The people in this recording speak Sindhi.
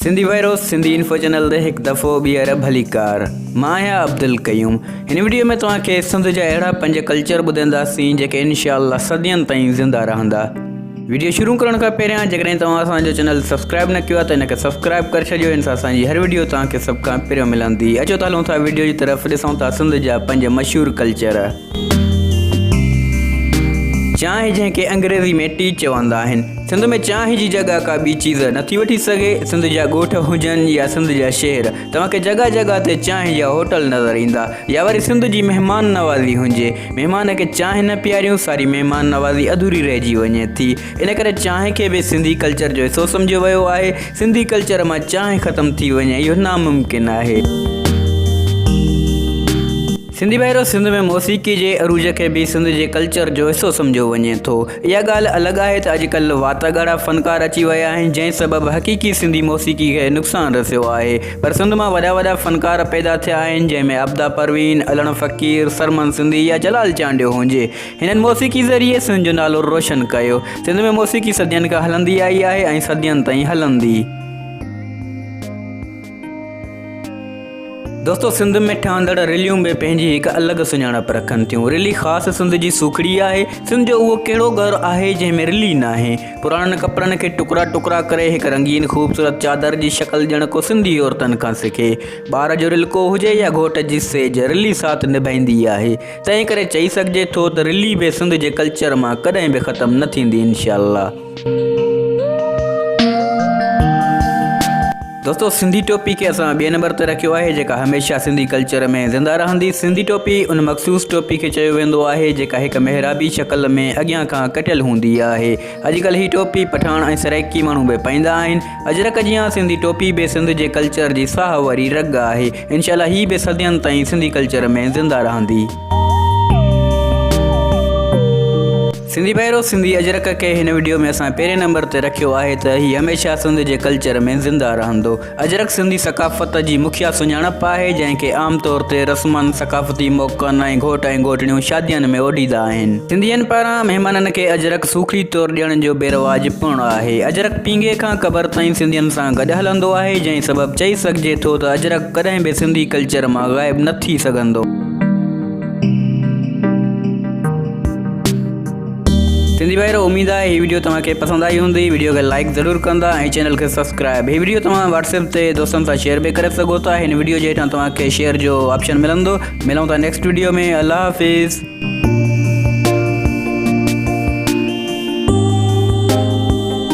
سنڌي ويروس سنڌي انفو چينل تي هڪ دفعو ٻيهر ڀليڪار مان آهيان عبدالقيوم هن وڊيو ۾ توهان کي سنڌ جا اهڙا پنج ڪلچر ٻڌنداسين جيڪي انشاء الله صدين تائين زنده رهندا وڊيو شروع ڪرڻ کان پهريان جيڪڏهن توهان اسان جو چينل سبسڪرائب نه ڪيو آهي ته ان کي سبسڪرائب ڪري ڇڏيو ان سان اسان جي هر وڊيو توهان کي سڀ کان پهريون ملندي اچو ته هلون ٿا وڊيو جي طرف ڏسون ٿا سنڌ جا پنج مشهور ڪلچر چانهه جنهن کي انگريزي ۾ Tea چوندا آهن. سنڌ ۾ چانهه جي جڳهه ڪا ٻي چيز نٿي وٺي سگهي. سنڌ جا ڳوٺ هجن يا سنڌ جا شهر توهان کي جڳهه جڳهه تي چانهه جا هوٽل نظر ايندا. يا وري سنڌ جي مهمان نوازي هجي. مهمان کي چانهه نه پياريون ساري مهمان نوازي اڌوري رهجي وڃي ٿي. ان ڪري چانهه کي به سنڌي ڪلچر جو حصو سمجهيو ويو آهي. سنڌي ڪلچر مان چانهه ختم ٿي وڃي اهو ناممڪن آهي. سنڌي ڀائرو سنڌ ۾ موسيقي جي عروج کي به سنڌ جي ڪلچر جو حصو سمجهيو وڃي ٿو اها ڳالهه الڳ آهي ته اڄڪلهه واٽ ڳاڙها فنڪار اچي ويا آهن جنهن سبب حقيقي سنڌي موسيقي کي نقصان رسيو آهي پر سنڌ مان وڏا وڏا فنڪار پيدا ٿيا آهن جنهن ۾ عبدا پروين علڻ فقير سرمن سنڌي يا جلال چانڊيو هجي هنن موسيقي ذريعي سنڌ جو نالو روشن ڪيو سنڌ ۾ موسيقي صدين کان هلندي آئي آهي ۽ صدين تائين هلندي. دوستو سنڌ ۾ ٺهندڙ رليون به پنهنجي هڪ الڳ سڃاڻپ رکن ٿيون رلي خاص سنڌ جي سوکڙي آهي سنڌ جو اهو ڪهڙو گهر آهي جنهن ۾ رلي ناهي پراڻن ڪپڙن کي ٽڪرا ٽڪرا ڪري هڪ رنگين خوبصورت چادر جي شڪل ڄڻ ڪو سنڌي عورتن کان سکي ٻار جو رلڪو هجي يا گهوٽ جي سيج رلي ساٿ نڀائيندي آهي تنهن ڪري چئي سگهجي ٿو ته رلي به سنڌ جي ڪلچر مان ڪڏهن به ختم نه ٿيندي انشاء الله دوستو سنڌي ٽوپي کي اسان ٻئي نمبر تي رکيو آهي جيڪا هميشه سنڌي ڪلچر ۾ زنده رهندي سنڌي ٽوپي ان مخصوص ٽوپي کي چيو ويندو آهي جيڪا هڪ محرابي شڪل ۾ اڳيان کان ڪٽيل هوندي آهي اڄڪلهه هي ٽوپي پٺاڻ ۽ سرائيڪي ماڻهو به پائيندا آهن اجرڪ جيان سنڌي ٽوپي به سنڌ جي ڪلچر جي ساهه واري رڳ آهي انشاء الله هي به صدين تائين سنڌي ڪلچر ۾ زنده رهندي. سنڌي ڀائرو سنڌي اجرڪ کي هن وڊيو ۾ اسان پهرين نمبر تي رکيو آهي ته هي هميشه سنڌ جي ڪلچر ۾ زنده رهندو اجرڪ سنڌي ثقافت جي مکيه سڃاڻپ آهي جنهن کي عام طور تي رسمن ثقافتي موقعن ۽ گهوٽ ۽ گهوٽڻيون شادين ۾ اوڍيندا آهن سنڌين پاران مهمانن کي اجرڪ سوکڙي طور ڏيڻ جو به رواج پڻ آهي اجرڪ پينگهي کان قبر تائين سنڌين سان گڏ هلندو آهي جنهن سبب چئي سگهجي ٿو ته اجرڪ ڪڏهن به سنڌي ڪلچر مان غائب نه ٿي سگهندو. سنڌي ڀائرو اميد آهي هي ويڊيو توهان کي پسند آئي هوندي ويڊيو کي لائڪ ضرور ڪندا ۽ چينل کي سبسڪرائب هي ويڊيو توهان واتس اپ تي دوستن سان شيئر به ڪري سگهو ٿا هن ويڊيو جي هيٺان توهان کي شيئر جو آپشن ملندو ملون ٿا نيڪسٽ ويڊيو ۾ الله حافظ